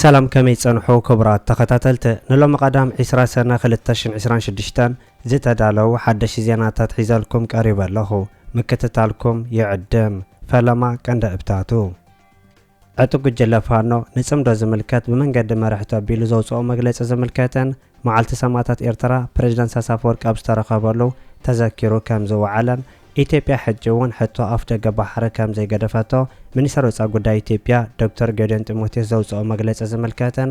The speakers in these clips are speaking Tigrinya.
ሰላም ከመይ ጸንሑ ክቡራት ተኸታተልቲ ንሎሚ ቀዳም ዕስራ ሰነ ክልተ ሽሕን ዕስራን ሽዱሽተን ዝተዳለዉ ሓደሽቲ ዜናታት ሒዘልኩም ቀሪበ ኣለኹ ምክትታልኩም ይዕድም ፈለማ ቀንደእብታቱ ዕጡቕ ጉጅለ ፋኖ፣ ንጽምዶ ዝምልከት ብመንገዲ መርሕቲ ኣቢሉ ዘውጽኦ መግለጺ ዝምልከትን፣ መዓልቲ ሰማእታት ኤርትራ ፕረዚደንት ኢሳያስ ኣፈወርቂ ኣብ ዝተረኸበሉ ተዘኪሩ ከም ዝወዓለን፣ ኢትዮጵያ ሕጂ እውን ሕቶ ኣፍደገ ባሕሪ ከም ዘይገደፈቶ ሚኒስተር ወጻኢ ጉዳይ ኢትዮጵያ ዶክተር ጌዲዮን ጢሞቴዎስ ዘውጽኦ መግለጺ ዝምልከትን፣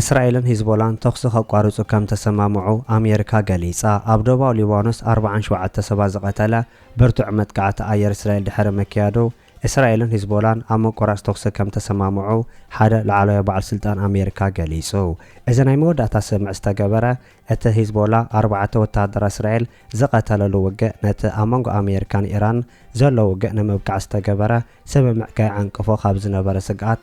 እስራኤልን ሂዝቦላን ተኹሲ ከቋርጹ ከም ተሰማምዑ ኣሜሪካ ገሊጻ። ኣብ ዶባዊ ሊባኖስ ኣርብዓን ሸውዓተ ሰባት ዝቐተለ ብርቱዕ መጥቃዕቲ ኣየር እስራኤል ድሕሪ ምክያዱ፣ እስራኤልን ሂዝቦላን ኣብ ምቁራጽ ተኹሲ ከም ተሰማምዑ ሓደ ላዕለዋይ በዓል ስልጣን ኣሜሪካ ገሊጹ። እዚ ናይ መወዳእታ ስምምዕ ዝተገበረ፣ እቲ ሂዝቦላ ኣርባዕተ ወተሃደራት እስራኤል ዝቐተለሉ ውግእ ነቲ ኣብ መንጎ ኣሜሪካን ኢራንን ዘሎ ውግእ ንምብቃዕ ዝተገበረ ስምምዕ ከየዓንቅፎ ካብ ዝነበረ ስግኣት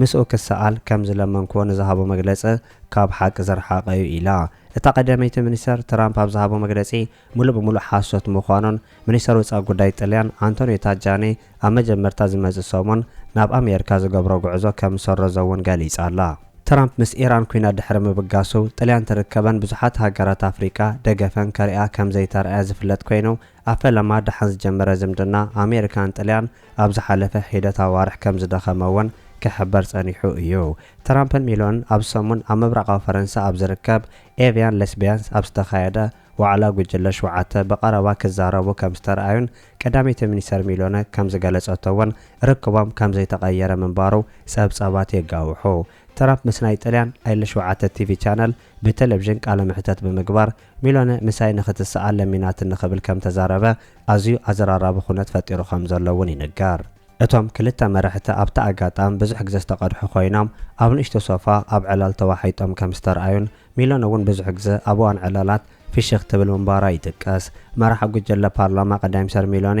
ምስኡ ክሰኣል ከም ዝለመንክዎ ንዝሃቦ መግለጺ ካብ ሓቂ ዝረሓቐ'ዩ ኢላ። እታ ቀዳመይቲ ሚኒስተር፣ ትራምፕ ኣብ ዝሃቦ መግለጺ ምሉእ ብምሉእ ሓሶት ምዃኑን፣ ሚኒስተር ወጻኢ ጉዳይ ጥልያን ኣንቶንዮ ታጃኒ ኣብ መጀመርታ ዝመጽእ ሰሙን ናብ ኣሜሪካ ዝገብሮ ጉዕዞ ከም ዝሰረዞ'ውን ገሊጻ'ላ። ትራምፕ ምስ ኢራን ኲናት ድሕሪ ምብጋሱ፣ ጥልያን ትርከበን ብዙሓት ሃገራት ኣፍሪቃ ደገፈን ከርእያ ከም ዘይተራእያ ዝፍለጥ ኰይኑ፣ ኣብ ፈለማ ደሓን ዝጀመረ ዝምድና ኣሜሪካን ጥልያን ኣብ ዝሓለፈ ሒደት ኣዋርሕ ከም ዝደኸመ እውን ክሕበር ጸኒሑ እዩ። ትራምፕን ሚሎንን ኣብዚ ሰሙን ኣብ ምብራቓዊ ፈረንሳ ኣብ ዝርከብ ኤቭያን ለስቢያንስ ኣብ ዝተኻየደ ዋዕላ ጉጅለ ሸውዓተ ብቐረባ ክዛረቡ ከም ዝተርኣዩን ቀዳመይቲ ሚኒስተር ሚሎነ ከም ዝገለጸቶ እውን ርክቦም ከም ዘይተቐየረ ምንባሩ ጸብጻባት የጋውሑ። ትራምፕ ምስ ናይ ጥልያን ኤል ሸውዓተ ቲቪ ቻነል ብተለቪዥን ቃለ መሕተት ብምግባር ሚሎነ ምሳይ ንኽትሰኣል ለሚናትኒ ክብል ከም ተዛረበ ኣዝዩ ኣዘራራቢ ኩነት ፈጢሩ ከም ዘሎ እውን ይንገር። እቶም ክልተ መራሕቲ ኣብቲ ኣጋጣሚ ብዙሕ ግዘ ዝተቐድሑ ኮይኖም ኣብ ንእሽቶ ሶፋ ኣብ ዕላል ተዋሒጦም ከም ዝተርኣዩን ሚሎነ እውን ብዙሕ ግዘ ኣብ እዋን ዕላላት ፍሽኽ ትብል ምንባራ ይጥቀስ። መራሒ ጉጀለ ፓርላማ ቀዳይምኒስተር ሚሎኔ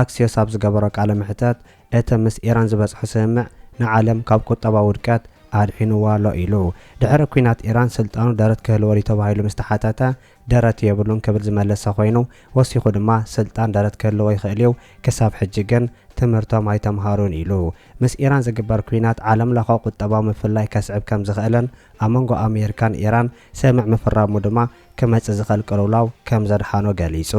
ኣክሲዮስ ኣብ ዝገበሮ ቃለ መሕተት፣ እቲ ምስ ኢራን ዝበጽሖ ስምምዕ ንዓለም ካብ ቁጠባዊ ውድቀት ኣድሒንዋ ኣሎ ኢሉ። ድሕሪ ኲናት ኢራን ስልጣኑ ደረት ክህልዎ ድዩ ተባሂሉ ምስ ተሓተተ፣ ደረት የብሉን ክብል ዝመለሰ ኮይኑ፣ ወሲኹ ድማ ስልጣን ደረት ክህልዎ ይኽእል'ዩ፣ ክሳብ ሕጂ ግን ትምህርቶም ኣይተምሃሩን ኢሉ። ምስ ኢራን ዝግበር ኲናት ዓለምለኸ ቁጠባዊ ምፍልላይ ከስዕብ ከምዝኽእልን ኣብ መንጎ ኣሜሪካን ኢራን ስምምዕ ምፍራሙ ድማ፣ ክመጽእ ዝኽእል ቅልውላው ከም ዘድሓኖ ገሊጹ።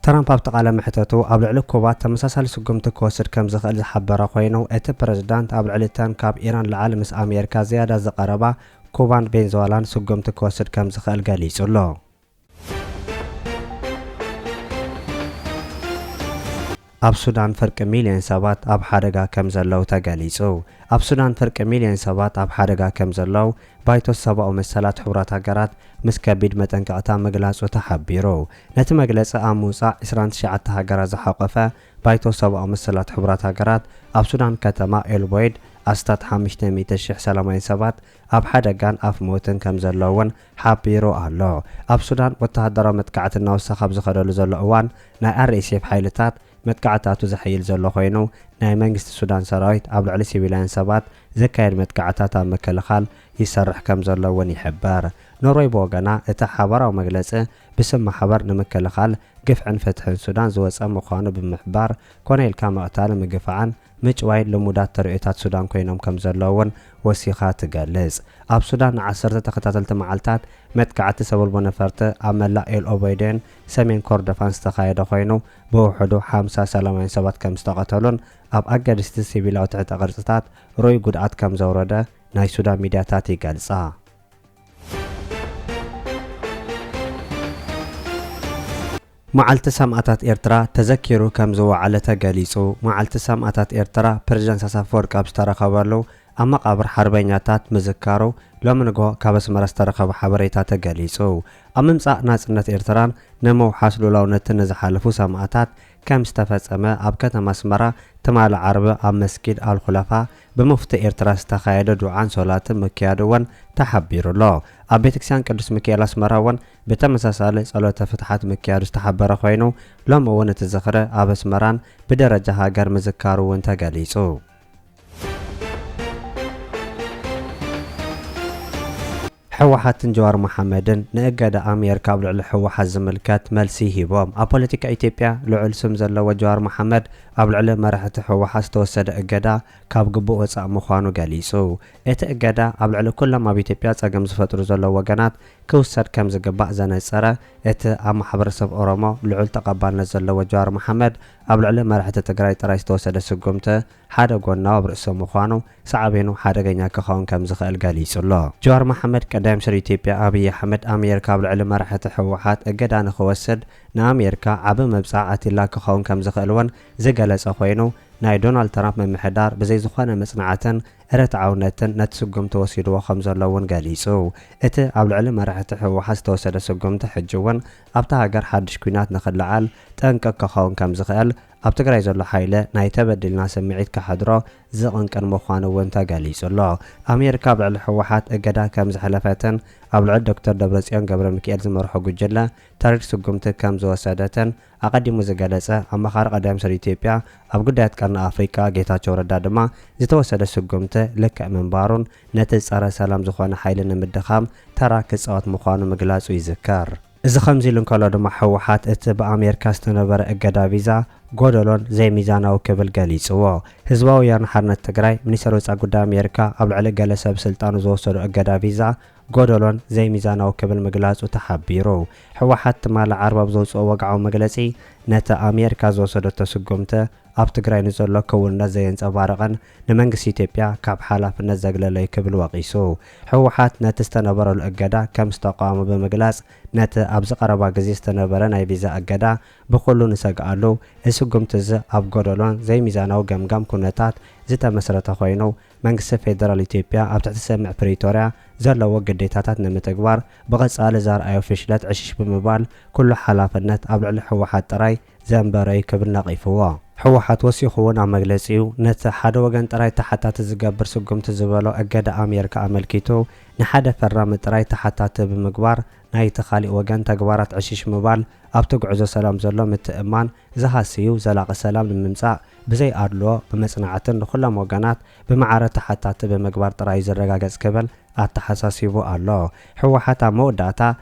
ትራምፕ ኣብቲ ቃለ መሕተቱ፣ ኣብ ልዕሊ ኩባ ተመሳሳሊ ስጉምቲ ክወስድ ከም ዝኽእል ዝሓበረ ኮይኑ፣ እቲ ፕረዚዳንት ኣብ ልዕሊ እተን ካብ ኢራን ልዓሊ ምስ ኣሜሪካ ዝያዳ ዝቐረባ ኩባን ቬንዝዋላን ስጉምቲ ክወስድ ከም ዝኽእል ገሊጹ ኣሎ። ኣብ ሱዳን ፍርቂ ሚልዮን ሰባት ኣብ ሓደጋ ከምዘለዉ ተገሊጹ። ኣብ ሱዳን ፍርቂ ሚልዮን ሰባት ኣብ ሓደጋ ከምዘለዉ ባይቶ ሰባኡ መሰላት ሕቡራት ሃገራት ምስ ከቢድ መጠንቀቕታ ምግላጹ ተሓቢሩ። ነቲ መግለጺ ኣብ ምውጻእ ዕስራን ትሽዓተ ሃገራት ዝሓቖፈ ባይቶ ሰባኡ መሰላት ሕቡራት ሃገራት ኣብ ሱዳን ከተማ ኤልቦይድ ኣስታት ሓምሽተ ሚእቲ ሽሕ ሰላማውያን ሰባት ኣብ ሓደጋን ኣፍ ሞትን ከምዘለዉን ሓቢሩ ኣሎ። ኣብ ሱዳን ወተሃደራዊ መጥቃዕቲ እናወሰኸ ኣብ ዝኸደሉ ዘሎ እዋን፣ ናይ RSF ሓይልታት መጥቃዕታቱ ዘሐይል ዘሎ ኮይኑ፣ ናይ መንግስቲ ሱዳን ሰራዊት ኣብ ልዕሊ ሲቪላውያን ሰባት ዘካየድ መጥቃዕታት ኣብ ምክልኻል ይሰርሕ ከም ዘሎ እውን ይሕበር። ኖርወይ ብወገና፣ እቲ ሓባራዊ መግለጺ ብስም ማሕበር ንምክልኻል ግፍዕን ፍትሕን ሱዳን ዝወጸ ምዃኑ ብምሕባር፣ ኮነ ኢልካ ምቕታልን ምግፋዕን ምጭዋይን ልሙዳት ተርእዮታት ሱዳን ኮይኖም ከም ዘለዉ እውን ወሲኻ ትገልጽ። ኣብ ሱዳን ንዓሰርተ ተኸታተልቲ መዓልታት መጥቃዕቲ ሰበልቦ ነፈርቲ ኣብ መላእ ኤል ኦበይደን ሰሜን ኮርዶፋን ዝተኻየደ ኮይኑ ብውሕዱ ሓምሳ ሰላማውያን ሰባት ከም ዝተቐተሉን ኣብ ኣገደስቲ ሲቪላዊ ትሕተ ቅርጽታት ርኡይ ጉድኣት ከም ዘውረደ ናይ ሱዳን ሚድያታት ይገልጻ። መዓልቲ ሰማእታት ኤርትራ ተዘኪሩ ከም ዝወዓለ ተገሊጹ። መዓልቲ ሰማእታት ኤርትራ ፕረዚደንት ኢሳያስ ኣፈወርቂ ኣብ ዝተረኸበሉ ኣብ መቓብር ሓርበኛታት ምዝካሩ ሎሚ ንግሆ ካብ ኣስመራ ዝተረኸበ ሓበሬታ ተገሊጹ። ኣብ ምምጻእ ናጽነት ኤርትራን ንምውሓስ ልኡላውነትን ንዝሓለፉ ሰማእታት ከም ዝተፈጸመ ኣብ ከተማ ኣስመራ ትማሊ ዓርቢ ኣብ መስጊድ ኣልኹላፋ ብሙፍቲ ኤርትራ ዝተኻየደ ዱዓን ሶላትን ምክያዱ ወን ተሓቢሩ ኣሎ። ኣብ ቤተክርስቲያን ቅዱስ ምኪኤል ኣስመራ ወን ብተመሳሳሊ ጸሎተ ፍትሓት ምክያዱ ዝተሓበረ ኮይኑ ሎሚ ውን እቲ ዝኽሪ ኣብ ኣስመራን ብደረጃ ሃገር ምዝካሩ ውን ተገሊጹ። ሕወሓትን ጀዋር መሓመድን ንእገዳ ኣሜርካ ኣብ ልዕሊ ሕወሓት ዝምልከት መልሲ ሂቦም። ኣብ ፖለቲካ ኢትዮጵያ ልዑል ስም ዘለዎ ጀዋር መሓመድ ኣብ ልዕሊ መራሕቲ ሕወሓት ዝተወሰደ እገዳ ካብ ግቡእ ወፃእ ምዃኑ ገሊፁ። እቲ እገዳ ኣብ ልዕሊ ኩሎም ኣብ ኢትዮጵያ ፀገም ዝፈጥሩ ዘለዉ ወገናት ክውሰድ ከምዝግባእ ዘነፀረ እቲ ኣብ ማሕበረሰብ ኦሮሞ ልዑል ተቐባልነት ዘለዎ ጀዋር መሓመድ ኣብ ልዕሊ መራሕቲ ትግራይ ጥራይ ዝተወሰደ ስጉምቲ ሓደ ጎናው ኣብ ርእሰ ምዃኑ ሳዕቤኑ ሓደገኛ ክኸውን ከም ዝኽእል ገሊጹ'ሎ። ጀዋር መሓመድ፣ ቀዳማይ ሚኒስተር ኢትዮጵያ ኣብይ ኣሕመድ፣ ኣሜሪካ ኣብ ልዕሊ መራሕቲ ህወሓት እገዳ ንኽወስድ ንኣሜሪካ ዓቢ መብጽዓ ኣትዩላ ክኸውን ከም ዝኽእል እውን ዝገለጸ ኮይኑ፣ ናይ ዶናልድ ትራምፕ ምምሕዳር ብዘይ ዝኾነ መጽናዕትን ርትዓውነትን ነቲ ስጉምቲ ወሲድዎ ከም ዘሎ እውን ገሊጹ። እቲ ኣብ ልዕሊ መራሕቲ ህወሓት ዝተወሰደ ስጉምቲ ሕጂ እውን ኣብታ ሃገር ሓድሽ ኲናት ንኽለዓል ጠንቂ ክኸውን ከም ዝኽእል ኣብ ትግራይ ዘሎ ሓይለ ናይ ተበዲልና ስምዒት ከሕድሮ ዝቕንቅን ምዃኑ እውን ተገሊፁ ኣሎ። ኣሜሪካ ኣብ ልዕሊ ህወሓት እገዳ ከምዘሕለፈትን ኣብ ልዕሊ ዶክተር ደብረፅዮን ገብረሚኪኤል ዝመርሖ ጉጅለ ተሪር ስጉምቲ ከምዝወሰደትን ኣቐዲሙ ዝገለፀ ኣማኻሪ ቀዳማይ ሚኒስትር ኢትዮጵያ ኣብ ጉዳያት ቀርኒ ኣፍሪካ ጌታቸው ረዳ ድማ ዝተወሰደ ስጉምቲ ልክዕ ምንባሩን ነቲ ፀረ ሰላም ዝኾነ ሓይሊ ንምድኻም ተራ ክፃወት ምዃኑ ምግላፁ ይዝከር። እዚ ከምዚሉ እንከሎ ድማ ህወሓት እቲ ብኣሜርካ ዝተነበረ እገዳ ቪዛ ጎደሎን ዘይሚዛናዊ ክብል ገሊፅዎ። ህዝባዊ ወያነ ሓርነት ትግራይ፣ ሚኒስተር ወፃኢ ጉዳይ ኣሜርካ ኣብ ልዕሊ ገለ ሰብ ስልጣኑ ዝወሰዶ እገዳ ቪዛ ጎደሎን ዘይሚዛናዊ ክብል ምግላፁ ተሓቢሩ። ህወሓት ትማሊ ዓርቢ ኣብ ዘውፅኦ ወግዓዊ መግለፂ ነቲ ኣሜርካ ዝወሰደቶ ስጉምቲ ኣብ ትግራይ ንዘሎ ክውንነት ዘየንፀባርቕን ንመንግስቲ ኢትዮጵያ ካብ ሓላፍነት ዘግለለ'ዩ ክብል ወቒሱ። ህወሓት ነቲ ዝተነበረሉ እገዳ ከም ዝተቓወሞ ብምግላጽ፣ ነቲ ኣብዚ ቀረባ ግዜ ዝተነበረ ናይ ቪዛ እገዳ ብኹሉ ንሰግኣሉ፣ እዚ ስጉምቲ'ዚ ኣብ ጎደሎን ዘይሚዛናዊ ገምጋም ኩነታት ዝተመስረተ ኮይኑ፣ መንግስቲ ፌደራል ኢትዮጵያ ኣብ ትሕቲ ስምምዕ ፕሪቶርያ ዘለዎ ግዴታታት ንምትግባር ብቐጻሊ ዘርኣዮ ፍሽለት ዕሽሽ ብምባል ኩሉ ሓላፍነት ኣብ ልዕሊ ህወሓት ጥራይ ዘንበረ'ዩ ክብል ነቒፍዎ። ህወሓት ወሲኹ እውን ኣብ መግለጺኡ፣ ነቲ ሓደ ወገን ጥራይ ተሓታቲ ዝገብር ስጉምቲ ዝበሎ እገዳ ኣሜሪካ ኣመልኪቱ፣ ንሓደ ፈራሚ ጥራይ ተሓታቲ ብምግባር ናይቲ ካሊእ ወገን ተግባራት ዕሽሽ ምባል ኣብቲ ጉዕዞ ሰላም ዘሎ ምትእምማን ዝሃስይ'ዩ፣ ዘላቒ ሰላም ንምምጻእ ብዘይ ኣድልዎ ብመጽናዕትን ንኹሎም ወገናት ብማዕረ ተሓታቲ ብምግባር ጥራይ'ዩ ዝረጋገጽ ክብል ኣተሓሳሲቡ ኣሎ። ህወሓት ኣብ መወዳእታ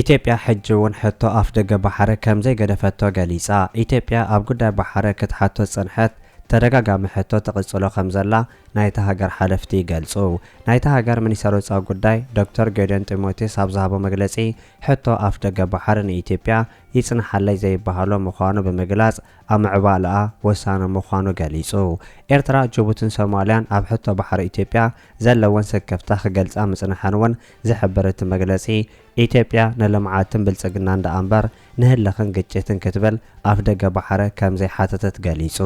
ኢትዮጵያ ሕጂ እውን ሕቶ ኣፍደገ ባሕሪ ከም ዘይገደፈቶ ገሊጻ። ኢትዮጵያ ኣብ ጉዳይ ባሕሪ ክትሓቶ ዝጸንሐት ተደጋጋሚ ሕቶ ትቕጽሎ ከም ዘላ ናይታ ሃገር ሓለፍቲ ይገልጹ። ናይታ ሃገር ሚኒስተር ወጻኢ ጉዳይ ዶክተር ጌዲዮን ጢሞቴዎስ ኣብ ዝሃቦ መግለጺ ሕቶ ኣፍደገ ባሕሪ ንኢትዮጵያ ይጽንሓለይ ዘይበሃሎ ምዃኑ ብምግላጽ ኣብ ምዕባለኣ ወሳኒ ምዃኑ ገሊጹ። ኤርትራ፣ ጅቡትን ሶማልያን ኣብ ሕቶ ባሕሪ ኢትዮጵያ ዘለወን ስክፍታ ክገልጻ ምጽንሐን እውን ዝሕብር እቲ መግለጺ፣ ኢትዮጵያ ንልምዓትን ብልጽግናን ደኣ እምበር ንህልኽን ግጭትን ክትብል ኣፍደገ ባሕሪ ከም ዘይሓተተት ገሊጹ።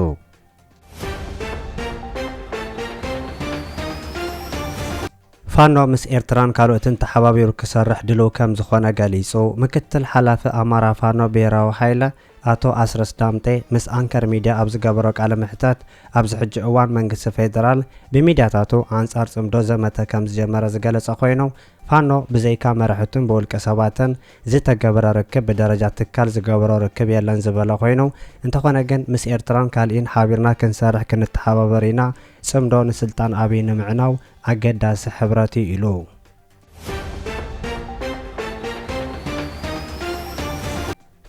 ፋኖ ምስ ኤርትራን ካልኦትን ተሓባቢሩ ክሰርሕ ድሉው ከም ዝኾነ ገሊጹ ምክትል ሓላፊ ኣማራ ፋኖ ብሄራዊ ሓይለ ኣቶ ኣስረስ ዳምጤ ምስ ኣንከር ሚድያ ኣብ ዝገበሮ ቃለ መሕተት፣ ኣብዚ ሕጂ እዋን መንግስቲ ፌደራል ብሚድያታቱ ኣንጻር ጽምዶ ዘመተ ከምዝጀመረ ዝገለጸ ኮይኑ፣ ፋኖ ብዘይካ መራሕቱን ብውልቀ ሰባትን ዝተገብረ ርክብ ብደረጃ ትካል ዝገበሮ ርክብ የለን ዝበለ ኮይኑ፣ እንተኾነ ግን ምስ ኤርትራን ካልኢን ሓቢርና ክንሰርሕ ክንተሓባበር ኢና፣ ጽምዶ ንስልጣን ኣብይ ንምዕናው ኣገዳሲ ሕብረት'ዩ ኢሉ።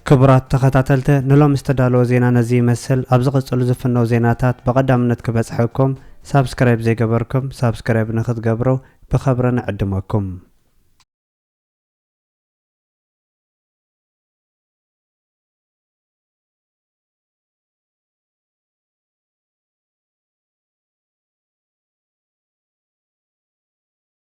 ክቡራት ተኸታተልተ ንሎም ዝተዳለወ ዜና ነዚ ይመስል ኣብ ዝቕጽሉ ዝፍነው ዜናታት ብቐዳምነት ክበጽሐኩም ሳብስክራይብ ዘይገበርኩም ሳብስክራይብ ንክትገብሩ ብኸብረ ንዕድመኩም